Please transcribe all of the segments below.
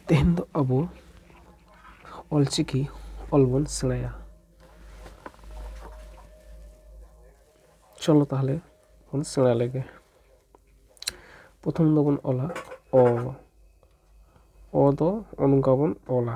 ᱛᱮᱦᱮᱧ ᱫᱚ ᱟᱵᱚ ᱚᱞ ᱪᱤᱠᱤ ᱚᱞ ᱵᱚᱱ ᱥᱮᱬᱟᱭᱟ ᱪᱚᱞᱚ ᱛᱟᱦᱚᱞᱮ ᱵᱚᱱ ᱥᱮᱬᱟ ᱞᱮᱜᱮ ᱯᱨᱚᱛᱷᱚᱢ ᱫᱚᱵᱚᱱ ᱚᱞᱟ ᱚ ᱚ ᱫᱚ ᱱᱚᱝᱠᱟ ᱵᱚᱱ ᱚᱞᱟ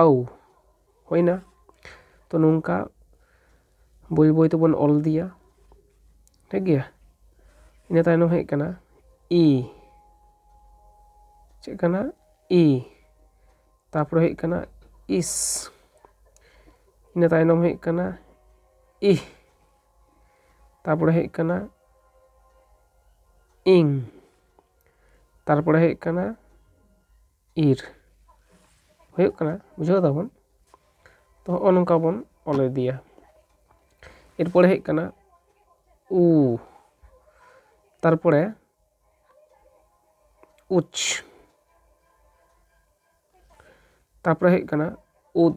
ᱟᱣ ᱦᱩᱭᱱᱟ ᱛᱚ ᱱᱚᱝᱠᱟ ᱵᱟᱹᱭ ᱵᱟᱹᱭ ᱛᱮᱵᱚᱱ ᱚᱞ ᱤᱫᱤᱭᱟ ᱴᱷᱤᱠ ᱜᱮᱭᱟ ᱤᱱᱟᱹ ᱛᱟᱭᱱᱚᱢ ᱦᱮᱡ ᱠᱟᱱᱟ ᱤ ᱪᱮᱫ ᱠᱟᱱᱟ ᱤ ᱛᱟᱯᱚᱨᱮ ᱦᱩᱭᱩᱜ ᱠᱟᱱᱟ ᱤᱥ ᱤᱱᱟᱹ ᱛᱟᱭᱱᱚᱢ ᱦᱩᱭᱩᱜ ᱠᱟᱱᱟ ᱤᱦ ᱛᱟᱯᱚᱨᱮ ᱦᱩᱭᱩᱜ ᱠᱟᱱᱟ ᱤᱝ ᱛᱟᱨᱯᱚᱨᱮ ᱦᱩᱭᱩᱜ ᱠᱟᱱᱟ ᱤᱨ ᱦᱩᱭᱩᱜ ᱠᱟᱱᱟ ᱵᱩᱡᱷᱟᱹᱣ ᱫᱟᱵᱚᱱ ᱛᱚ ᱦᱚᱜᱼᱚᱭ ᱱᱚᱝᱠᱟ ᱵᱚᱱ ᱚᱞ ᱤᱫᱤᱭᱟ ᱮᱨᱯᱚᱨᱮ ᱦᱮᱡ ᱠᱟᱱᱟ ᱩ ᱛᱟᱨᱯᱚᱨᱮ ᱩᱪ ᱛᱟᱨᱯᱚᱨᱮ ᱦᱮᱡ ᱠᱟᱱᱟ ᱩᱫ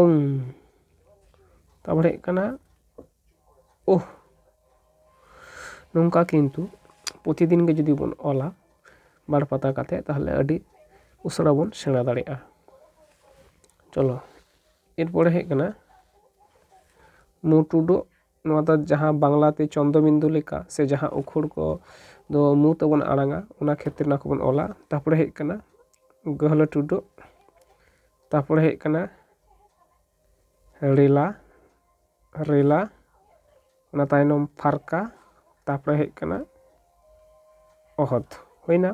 ᱳᱝ ᱛᱟᱨᱯᱚᱨᱮ ᱦᱩᱭᱩᱜ ᱠᱟᱱᱟ ᱳᱦ ᱱᱚᱝᱠᱟ ᱠᱤᱱᱛᱩ ᱯᱨᱚᱛᱤᱫᱤᱱ ᱜᱮ ᱡᱩᱫᱤ ᱵᱚᱱ ᱚᱞᱟ ᱵᱟᱨ ᱯᱟᱛᱟ ᱠᱟᱛᱮᱫ ᱛᱟᱦᱚᱞᱮ ᱟᱹᱰᱤ ᱩᱥᱟᱹᱨᱟ ᱵᱚᱱ ᱥᱮᱬᱟ ᱫᱟᱲᱮᱭᱟᱜᱼᱟ ᱪᱚᱞᱚ ᱮᱨᱯᱚᱨᱮ ᱦᱩᱭᱩᱜ ᱠᱟᱱᱟ ᱢᱩ ᱴᱩᱰᱩᱜ ᱱᱚᱣᱟ ᱫᱚ ᱡᱟᱦᱟᱸ ᱵᱟᱝᱞᱟ ᱛᱮ ᱪᱚᱱᱫᱚ ᱵᱤᱱᱫᱩ ᱞᱮᱠᱟ ᱥᱮ ᱡᱟᱦᱟᱸ ᱩᱠᱷᱩᱲ ᱠᱚ ᱫᱚ ᱢᱩ ᱛᱮᱵᱚᱱ ᱟᱲᱟᱝᱟ ᱚᱱᱟ ᱠᱷᱮᱛᱨᱮ ᱚᱱᱟ ᱠᱚᱵᱚᱱ ᱚᱞᱟ ᱛᱟᱨᱯᱚᱨᱮ ᱦᱮᱡ ᱠᱟᱱᱟ ᱜᱟᱹᱦᱞᱟᱹ ᱴᱩᱰᱟᱹᱜ ᱛᱟᱨᱯᱚᱨᱮ ᱦᱮᱡ ᱠᱟᱱᱟ ᱨᱮᱞᱟ ᱨᱮᱞᱟ ᱚᱱᱟ ᱛᱟᱭᱱᱚᱢ ᱯᱷᱟᱨᱠᱟ ᱛᱟᱨᱯᱚᱨᱮ ᱦᱮᱡ ᱠᱟᱱᱟ ᱚᱦᱚᱫ ᱦᱩᱭᱱᱟ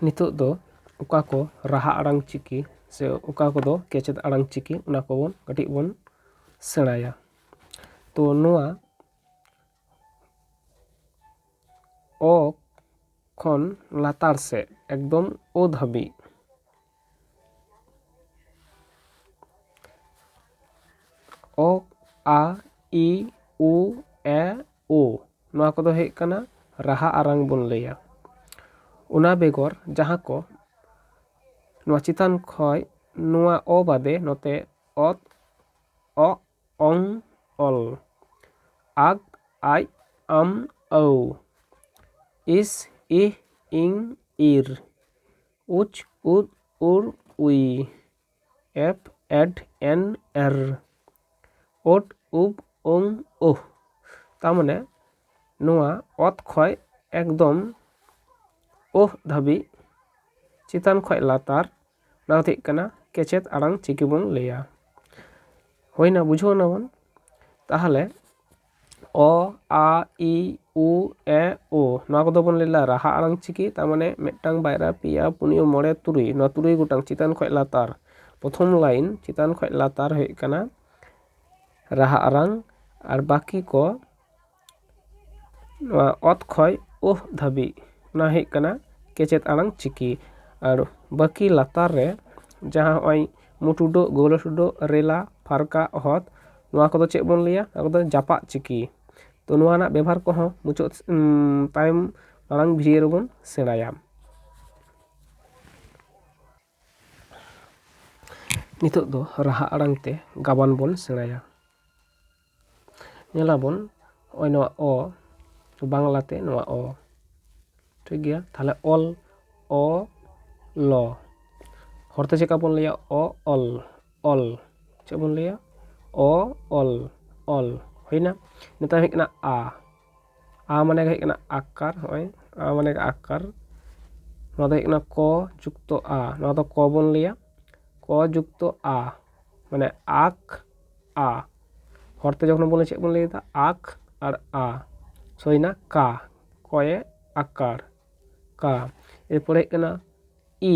ᱱᱤᱛᱚᱜ ᱫᱚ ᱚᱠᱟ ᱠᱚ ᱨᱟᱦᱟ ᱟᱲᱟᱝ ᱪᱤᱠᱤ ᱥᱮ ᱚᱠᱟ ᱠᱚᱫᱚ ᱠᱮᱪᱮᱫ ᱟᱲᱟᱝ ᱪᱤᱠᱤ ᱚᱱᱟ ᱠᱚᱵᱚᱱ ᱠᱟᱹᱴᱤᱡ ᱵᱚᱱ ᱥᱮᱬᱟᱭᱟ ᱛᱚ ᱱᱚᱣᱟ ᱚ ᱠᱷᱚᱱ ᱞᱟᱛᱟᱨ ᱥᱮᱫ ᱮᱠᱫᱚᱢ ᱳ ᱫᱷᱟᱹᱵᱤᱡ ᱚ ᱟ ᱤ ᱩ ᱮ ᱳ ᱱᱚᱣᱟ ᱠᱚᱫᱚ ᱦᱩᱭᱩᱜ ᱠᱟᱱᱟ ᱨᱟᱦᱟ ᱟᱲᱟᱝ ᱵᱚᱱ ᱞᱟᱹᱭᱟ ᱚᱱᱟ ᱵᱮᱜᱚᱨ ᱡᱟᱦᱟᱸ ᱠᱚ ᱱᱚᱣᱟ ᱪᱮᱛᱟᱱ ᱠᱷᱚᱱ ᱱᱚᱣᱟ ᱚ ᱵᱟᱫᱮ ᱱᱚᱛᱮ ᱚᱛ ᱚᱜ ᱚᱝ ᱚᱞ ᱟᱜ ᱟᱡ ᱟᱢ ᱟᱹᱣ ᱤᱥ ᱤᱦ ᱤᱝ ᱤᱨ ᱩᱪ ᱩᱫ ᱩᱨ ᱩᱭ ᱮᱯᱷ ᱮᱰ ᱮᱱ ᱮᱨ ᱳᱴ ᱩᱵ ᱳᱢ ᱳᱦ ᱛᱟᱨᱢᱟᱱᱮ ᱱᱚᱣᱟ ᱚᱛ ᱠᱷᱚᱡ ᱮᱠᱫᱚᱢ ᱳᱦ ᱫᱷᱟᱹᱵᱤᱡ ᱪᱮᱛᱟᱱ ᱠᱷᱚᱡ ᱞᱟᱛᱟᱨ ᱱᱚᱣᱟ ᱫᱚ ᱦᱩᱭᱩᱜ ᱠᱟᱱᱟ ᱠᱮᱪᱮᱫ ᱟᱲᱟᱝ ᱪᱤᱠᱤ ᱵᱚᱱ ᱞᱟᱹᱭᱟ ᱦᱩᱭᱱᱟ ᱵᱩᱡᱷᱟᱹᱣ ᱱᱟᱵᱚᱱ ᱛᱟᱦᱚᱞᱮ ᱚ ᱟ ᱤ ᱩ ᱮ ᱳ ᱱᱚᱣᱟ ᱠᱚᱫᱚ ᱵᱚᱱ ᱞᱟᱹᱭᱫᱟ ᱨᱟᱦᱟ ᱟᱲᱟᱝ ᱪᱤᱠᱤ ᱛᱟᱨᱢᱟᱱᱮ ᱢᱤᱫᱴᱟᱝ ᱵᱟᱨᱭᱟ ᱯᱮᱭᱟ ᱯᱩᱱᱭᱟᱹ ᱢᱚᱬᱮ ᱛᱩᱨᱩᱭ ᱱᱚᱣᱟ ᱛᱩᱨᱩᱭ ᱜᱚᱴᱟᱝ ᱪᱮᱛᱟᱱ ᱠᱷᱚᱱ ᱞᱟᱛᱟᱨ ᱯᱨᱚᱛᱷᱚᱢ ᱞᱟᱭᱤᱱ ᱪᱮᱛᱟᱱ ᱠᱷᱚᱱ ᱞᱟᱛᱟᱨ ᱦᱩᱭᱩᱜ ᱠᱟᱱᱟ ᱨᱟᱦᱟ ᱟᱲᱟᱝ ᱟᱨ ᱵᱟᱹᱠᱤ ᱠᱚ ᱱᱚᱣᱟ ᱚᱛ ᱠᱷᱚᱱ ᱳᱦ ᱫᱷᱟᱹᱵᱤᱡ ᱚᱱᱟ ᱦᱩᱭᱩᱜ ᱠᱟᱱᱟ ᱠᱮᱪᱮᱫ ᱟᱲᱟᱝ ᱪᱤᱠᱤ ᱟᱨ ᱵᱟᱹᱠᱤ ᱞᱟᱛᱟᱨ ᱨᱮ ᱡᱟᱦᱟᱸ ᱱᱚᱜᱼᱚᱭ ᱢᱩᱴᱩᱰᱚᱜ, ᱜᱳᱣᱞᱟᱴᱩᱰᱚᱜ, ᱨᱮᱞᱟ, ᱯᱷᱟᱨᱠᱟ, ᱚᱦᱚᱛ ᱱᱚᱣᱟ ᱠᱚᱫᱚ ᱪᱮᱫ ᱵᱚᱱ ᱞᱟᱹᱭᱟ ᱱᱚᱣᱟ ᱠᱚᱫᱚ ᱡᱟᱯᱟᱜ ᱪᱤᱠᱤ ᱛᱚ ᱱᱚᱣᱟ ᱨᱮᱱᱟᱜ ᱵᱮᱵᱷᱟᱨ ᱠᱚᱦᱚᱸ ᱢᱩᱪᱟᱹᱫ ᱛᱟᱭᱚᱢ ᱢᱟᱲᱟᱝ ᱵᱷᱤᱰᱤᱭᱳ ᱨᱮᱵᱚᱱ ᱥᱮᱬᱟᱭᱟ ᱱᱤᱛᱚᱜ ᱫᱚ ᱨᱟᱦᱟ ᱟᱲᱟᱝ ᱛᱮ ᱜᱟᱵᱟᱱ ᱵᱚᱱ ᱥᱮᱬᱟᱭᱟ ᱧᱮᱞᱟᱵᱚᱱ ᱱᱚᱜᱼᱚᱭ ᱱᱚᱣᱟ ᱚ ᱵᱟᱝᱞᱟᱛᱮ ᱱᱚᱣᱟ ᱚ ᱴᱷᱤᱠ ᱜᱮᱭᱟ ᱛᱟᱦᱚᱞᱮ ᱚᱞ ᱚ ᱞᱚ ᱦᱚᱲᱛᱮ ᱪᱮᱫᱠᱟ ᱵᱚᱱ ᱞᱟᱹᱭᱟ ᱚ ᱚᱞ ᱚᱞ ᱪᱮᱫ ᱵᱚᱱ ᱞᱟᱹᱭᱟ ᱚ ᱚᱞ ᱚᱞ ᱦᱩᱭᱱᱟ ᱱᱮᱛᱟᱨ ᱦᱮᱡ ᱠᱟᱱᱟ ᱟ ᱟ ᱢᱟᱱᱮ ᱫᱚ ᱦᱩᱭᱩᱜ ᱠᱟᱱᱟ ᱟᱠᱟᱨ ᱦᱚᱸᱜᱼᱚᱭ ᱟ ᱢᱟᱱᱮ ᱟᱠᱟᱨ ᱱᱚᱣᱟ ᱫᱚ ᱦᱩᱭᱩᱜ ᱠᱟᱱᱟ ᱠᱚ ᱡᱩᱠᱛᱚ ᱟ ᱱᱚᱣᱟ ᱫᱚ ᱠᱚ ᱵᱚᱱ ᱞᱟᱹᱭᱟ ᱠᱚ ᱡᱩᱠᱛᱚ ᱟ ᱢᱟᱱᱮ ᱟᱠ ᱟ ᱦᱚᱲᱛᱮ ᱡᱚᱠᱷᱚᱱ ᱵᱚᱱ ᱞᱟᱹᱭᱟ ᱪᱮᱫ ᱵᱚᱱ ᱞᱟᱹᱭᱫᱟ ᱟᱠ ᱟᱨ ᱟ ᱥᱳ ᱦᱩᱭᱱᱟ ᱠᱟ ᱠᱚᱭᱮ ᱟᱠᱟᱨ ᱠᱟ ᱮᱨᱯᱚᱨᱮ ᱦᱩᱭᱩᱜ ᱠᱟᱱᱟ ᱤ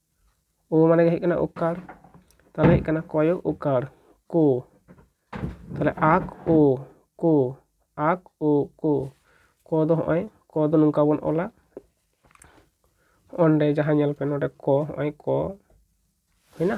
ᱳ ᱢᱟᱱᱮ ᱦᱩᱭᱩᱜ ᱠᱟᱱᱟ ᱳᱠᱟᱨ ᱛᱟᱦᱚᱞᱮ ᱦᱩᱭᱩᱜ ᱠᱟᱱᱟ ᱠᱚᱭᱚ ᱳᱠᱟᱨ ᱠᱳ ᱛᱟᱦᱚᱞᱮ ᱟᱠ ᱳ ᱠᱳ ᱟᱠ ᱳ ᱠᱳ ᱠᱚ ᱫᱚ ᱦᱚᱸᱜᱼᱚᱭ ᱠᱚ ᱫᱚ ᱱᱚᱝᱠᱟ ᱵᱚᱱ ᱚᱞᱟ ᱚᱸᱰᱮ ᱡᱟᱦᱟᱸ ᱧᱮᱞ ᱯᱮ ᱱᱚᱰᱮ ᱠᱚ ᱦᱚᱸᱜᱼᱚᱭ ᱠᱚ ᱦᱩᱭᱱᱟ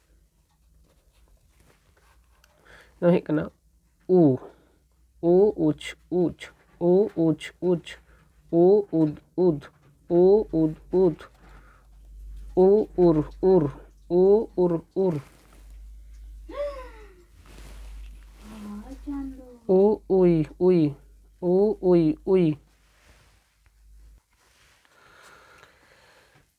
ᱱᱚᱣᱟ ᱦᱩᱭᱩᱜ ᱠᱟᱱᱟ ᱩ ᱩ ᱩᱪ ᱩᱪ ᱩ ᱩᱪ ᱩᱪ ᱩ ᱩᱫ ᱩᱫ ᱩ ᱩᱫ ᱩᱫ ᱩ ᱩᱨ ᱩᱨ ᱩ ᱩᱨ ᱩᱨ ᱩ ᱩᱭ ᱩᱭ ᱩ ᱩᱭ ᱩᱭ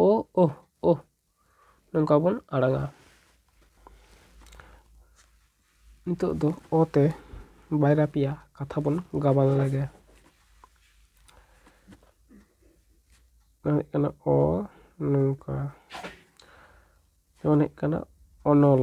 ᱳ ᱳ ᱳ ᱱᱚᱝᱠᱟ ᱵᱚᱱ ᱟᱲᱟᱝᱟ ᱱᱤᱛᱚᱜ ᱫᱚ ᱚ ᱛᱮ ᱵᱟᱨᱭᱟ ᱯᱮᱭᱟ ᱠᱟᱛᱷᱟ ᱵᱚᱱ ᱜᱟᱵᱟᱱ ᱞᱮᱜᱮ ᱚᱱᱟ ᱦᱩᱭᱩᱜ ᱠᱟᱱᱟ ᱚ ᱱᱚᱝᱠᱟ ᱡᱮᱢᱚᱱ ᱦᱩᱭᱩᱜ ᱠᱟᱱᱟ ᱚᱱᱚᱞ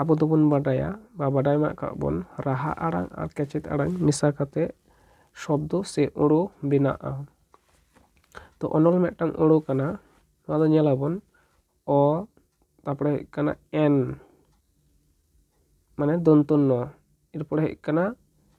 ᱟᱵᱚ ᱫᱚᱵᱚᱱ ᱵᱟᱰᱟᱭᱟ ᱵᱟ ᱵᱟᱰᱟᱭ ᱢᱮᱱᱟᱜ ᱟᱠᱟᱫ ᱵᱚᱱ ᱨᱟᱦᱟ ᱟᱲᱟᱝ ᱟᱨ ᱠᱮᱪᱮᱫ ᱟᱲᱟᱝ ᱢᱮᱥᱟ ᱠᱟᱛᱮ ᱥᱚᱵᱫᱚ ᱥᱮ ᱟᱹᱲᱟᱹ ᱵᱮᱱᱟᱜᱼᱟ ᱛᱚ ᱚᱱᱚᱞ ᱢᱤᱫᱴᱟᱝ ᱟᱹᱲᱟᱹ ᱠᱟᱱᱟ ᱱᱚᱣᱟ ᱫᱚ ᱧᱮᱞ ᱟᱵᱚᱱ ᱚ ᱛᱟᱯᱚᱨᱮ ᱦᱩᱭᱩᱜ ᱠᱟᱱᱟ ᱮᱱ ᱢᱟᱱᱮ ᱫᱚᱱᱛᱚ ᱱᱚ ᱮᱨᱯᱚᱨᱮ ᱦᱩᱭᱩᱜ ᱠᱟᱱᱟ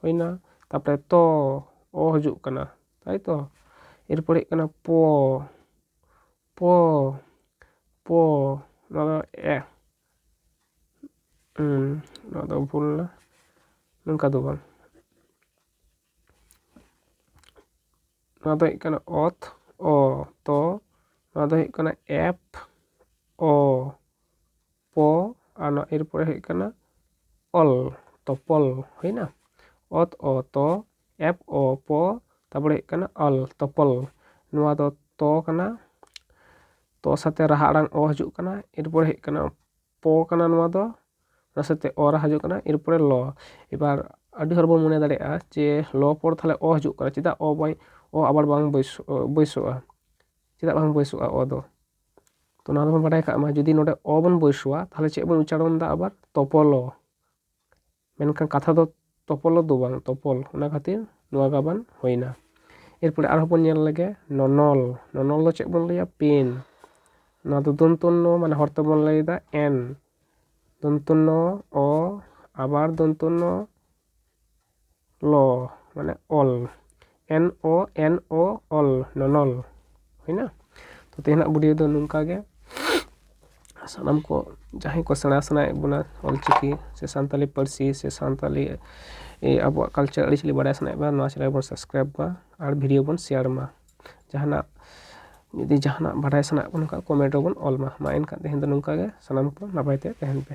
ᱦᱩᱭᱱᱟ ᱛᱟᱯᱚᱨᱮ ᱛᱚ ᱚ ᱦᱤᱡᱩᱜ ᱠᱟᱱᱟ ᱛᱟᱭ ᱛᱚ ᱮᱨᱯᱚᱨ ᱦᱮᱡ ᱠᱟᱱᱟ ᱯᱚ ᱯᱚ ᱯᱚ ᱱᱚᱣᱟ ᱫᱚ ᱮ ᱱᱚᱣᱟ ᱫᱚ ᱵᱷᱩᱞ ᱮᱱᱟ ᱱᱚᱝᱠᱟ ᱫᱚ ᱵᱟᱝ ᱱᱚᱣᱟ ᱫᱚ ᱦᱩᱭᱩᱜ ᱠᱟᱱᱟ ᱚᱛ ᱚ ᱛᱚ ᱱᱚᱣᱟ ᱫᱚ ᱦᱩᱭᱩᱜ ᱠᱟᱱᱟ ᱮᱯ ᱚ ᱯᱚ ᱟᱨ ᱱᱚᱣᱟ ᱮᱨ ᱯᱚᱨᱮ ᱦᱩᱭᱩᱜ ᱠᱟᱱᱟ ᱚᱞ ᱛᱚ ᱯᱚᱞ ᱦᱩᱭᱱᱟ ᱚᱛ ᱚ ᱛᱚ ᱮᱯ ᱚ ᱯᱚ ᱛᱟᱨᱯᱚᱨᱮ ᱦᱩᱭᱩᱜ ᱠᱟᱱᱟ ᱚᱞ ᱛᱚ ᱯᱚᱞ ᱱᱚᱣᱟ ᱫᱚ ᱛᱚ ᱠᱟᱱᱟ ᱛᱚ ᱥᱟᱛᱮ ᱨᱟᱦᱟ ᱟᱲᱟᱝ ᱚ ᱦᱤᱡᱩᱜ ᱠᱟᱱᱟ ᱮᱨᱯᱚᱨᱮ ᱦᱩᱭᱩᱜ ᱠᱟᱱᱟ ᱯᱚ ᱠᱟᱱᱟ ᱱᱚᱣᱟ ᱫᱚ ᱚᱱᱟ ᱥᱟᱛᱮ ᱚ ᱨᱟᱦᱟ ᱦᱤᱡᱩᱜ ᱠᱟᱱᱟ ᱮᱨᱯᱚᱨᱮ ᱞᱚ ᱮᱵᱟᱨ ᱟᱹᱰᱤ ᱦᱚᱲ ᱵᱚᱱ ᱢᱚᱱᱮ ᱫᱟᱲᱮᱭᱟᱜᱼᱟ ᱡᱮ ᱞᱚ ᱯᱚᱨ ᱛᱟᱦᱚᱞᱮ ᱚ ᱦᱤᱡᱩᱜ ᱠᱟᱱᱟ ᱪᱮᱫᱟᱜ ᱚ ᱵᱟᱭ ᱚ ᱟᱵᱟᱨ ᱵᱟᱝ ᱵᱟᱹᱭᱥᱟᱹᱜᱼᱟ ᱪᱮᱫᱟᱜ ᱵᱟᱝ ᱵᱟᱹᱭᱥᱟᱹᱜᱼᱟ ᱚ ᱫᱚ ᱛᱚ ᱱᱚᱣᱟ ᱫᱚᱵᱚᱱ ᱵᱟᱰᱟᱭ ᱠᱟᱜ ᱢᱟ ᱡᱩᱫᱤ ᱱᱚᱰᱮ ᱚ ᱵᱚᱱ ᱵᱟᱹᱭᱥᱟᱹᱣᱟ ᱛᱟᱦᱚᱞᱮ ᱪᱮᱫ ᱵᱚᱱ ᱩᱪᱪᱟᱨᱚᱱ ᱫᱟ ᱟᱵᱟᱨ ᱛᱚᱯᱚᱞᱚ ᱢᱮᱱᱠᱷᱟᱱ ᱠᱟᱛᱷᱟ ᱫᱚ ᱛᱚᱯᱚᱞᱚ ᱫᱚ ᱵᱟᱝ ᱛᱚᱯᱚᱞ ᱚᱱᱟ ᱠᱷᱟᱹᱛᱤᱨ ᱱᱚᱣᱟ ᱜᱟᱵᱟᱱ ᱦᱩᱭᱱᱟ ᱮᱨᱯᱚᱨᱮ ᱟᱨᱦᱚᱸ ᱵᱚᱱ ᱧᱮᱞ ᱞᱮᱜᱮ ᱱᱚᱱᱚᱞ ᱱᱚᱱᱚᱞ ᱫᱚ ᱪᱮᱫ ᱵᱚᱱ ᱞᱟᱹᱭᱟ ᱯᱮᱱ ᱱᱚᱣᱟ ᱫᱚ ᱫᱚᱱᱛᱚᱱᱱᱚ ᱢᱟᱱᱮ ᱦᱚᱲ ᱛᱮᱵᱚᱱ ᱞᱟᱹᱭᱫᱟ ᱮᱱ ᱫᱚᱱᱛᱚᱱᱱᱚ ᱚ ᱟᱵᱟᱨ ᱫᱚᱱᱛᱚᱱᱱᱚ ᱞᱚ ᱢᱟᱱᱮ ᱚᱞ ᱮᱱ ᱳ ᱮᱱ ᱳ ᱚᱞ ᱱᱚᱱᱚᱞ ᱦᱩᱭᱱᱟ ᱛᱚ ᱛᱮᱦᱮᱧᱟᱜ ᱵᱷᱤᱰᱭᱳ ᱫᱚ ᱱᱚᱝᱠᱟ ᱜᱮ ᱥᱟᱱᱟᱢ ᱠᱚ ᱡᱟᱦᱟᱸᱭ ᱠᱚ ᱥᱮᱬᱟ ᱥᱟᱱᱟᱭᱮᱫ ᱵᱚᱱᱟ ᱚᱞ ᱪᱤᱠᱤ ᱥᱮ ᱥᱟᱱᱛᱟᱞᱤ ᱯᱟᱹᱨᱥᱤ ᱥᱮ ᱥᱟᱱᱛᱟᱞᱤ ᱟᱵᱚᱣᱟᱜ ᱠᱟᱞᱪᱟᱨ ᱟᱹᱨᱤᱪᱟᱹᱞᱤ ᱵᱟᱲᱟᱭ ᱥᱟᱱᱟᱭᱮᱫ ᱵᱚᱱᱟ ᱱᱚᱣᱟ ᱪᱮᱱᱮᱞ ᱵᱚᱱ ᱥᱟᱵᱥᱠᱨᱟᱭᱤᱵᱽ ᱢᱟ ᱟᱨ ᱵᱷᱤᱰᱭᱳ ᱵᱚᱱ ᱥᱮᱭᱟᱨ ᱢᱟ ᱡᱟᱦᱟᱱᱟᱜ ᱡᱩᱫᱤ ᱡᱟᱦᱟᱱᱟᱜ ᱵᱟᱰᱟᱭ ᱥᱟᱱᱟᱭᱮᱫ ᱵᱚᱱ ᱠᱷᱟᱱ ᱠᱚᱢᱮᱱᱴ ᱨᱮᱵᱚᱱ ᱚᱞ ᱢᱟ ᱢᱟ ᱮᱱᱠᱷᱟᱱ ᱛᱮᱦᱮᱧ ᱫᱚ ᱱᱚᱝᱠᱟ ᱜᱮ ᱥᱟᱱᱟᱢ ᱠᱚ ᱱᱟᱯᱟᱭ ᱛᱮ ᱛᱟᱦᱮᱱ ᱯᱮ